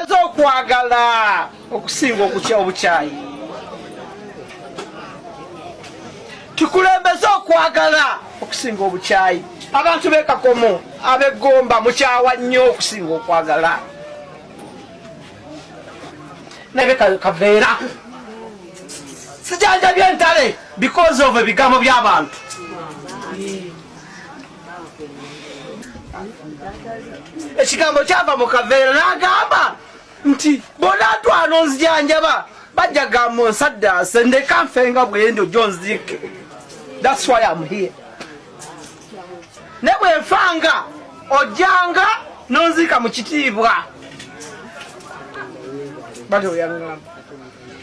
eza okwagala okusinga okutya obukyayi tukulembeze okwagala okusinga obukyayi abantu bekakomo abegomba mukyawa nnyo okusinga okwagala naye kaveera sijanjabye entale because of ebigambo by'abantu ekigambo kyava mu kaveera n'agamba nti bonatwala onzijanjaba bajja gamba onsaddaase ndeka nfe nga bwendi ojo nziike thats why am here ne bwe nfanga ojjanga nonziika mu kitiibwa batyo bwe yangamba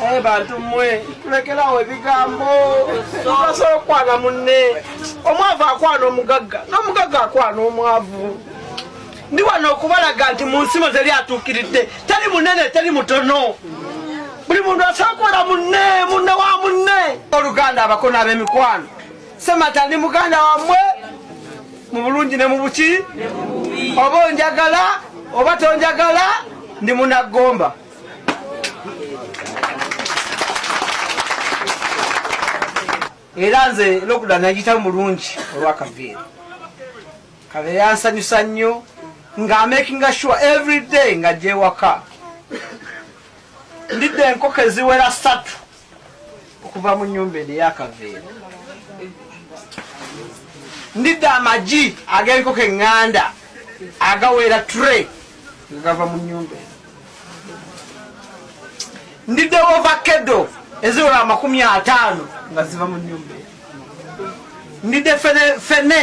Hey, eh, bantu mmwe tulekerawo ebigambo tunasobola okukwana munne omwavu akwana omugagga n'omugagga akwana omwavu ndi wano okubalaga nti mu nsimo zeri atuukiridde teri munene teri mutono buli muntu asobola kubeera munne munne wa munne oluganda abakona ab'emikwano semata ndi muganda wamwe mu bulungi ne mu buki oba onjagala oba tonjagala ndi munaggomba era nze lokuda nagita mulungi olwakaveera kaveera yansanyusa nnyo nga amakinga sure every day nga gyewaka ndidde enkoko eziwera satu okuva mu nyumba eno eyakaveera ndidde amagi ag'enkoko eŋŋanda agawera tre nga gava mu nyumba eno ndidde wovakedo eziwera amakumi ataano nga ziva mu nyumba eno ndidde fene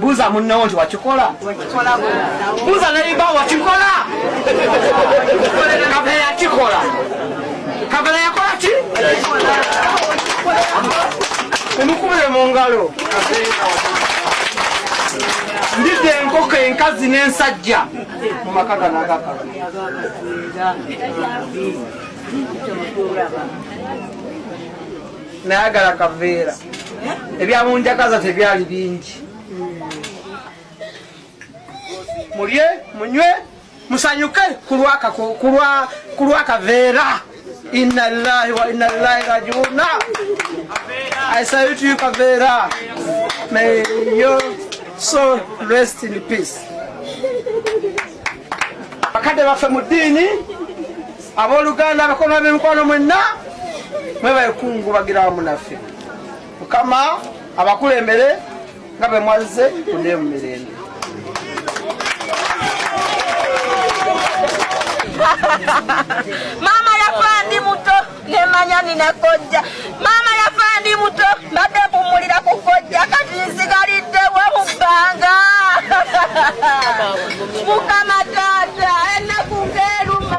Buza munnawo nti wakikola buza nayiba wakikola kabela yakikola kabela yakola ki emukubire mu ngalo ndidde enkoko enkazi n'ensajja mu maka gano agakala nayagala kaveera ebyamunjagaza tebyali bingi mulye munywe musanyuke kulwakaveera inna lillahi wa inna lillahi rajiuna i salute you kaveera may your soul rest in peace bakadde baffe mu ddiini abooluganda abakolwa b'emikwano mwenna mwebaekungubagirawamu naffe mukama abakulembere nga bwe mwazze kuneemu mirembe maama yafa ndi muto nemanya nina kojja maama yafa ndi muto mbadde mpummulira ku kojja kati nsigaliddewo mu bbanga mukama taata enaku ngeeruma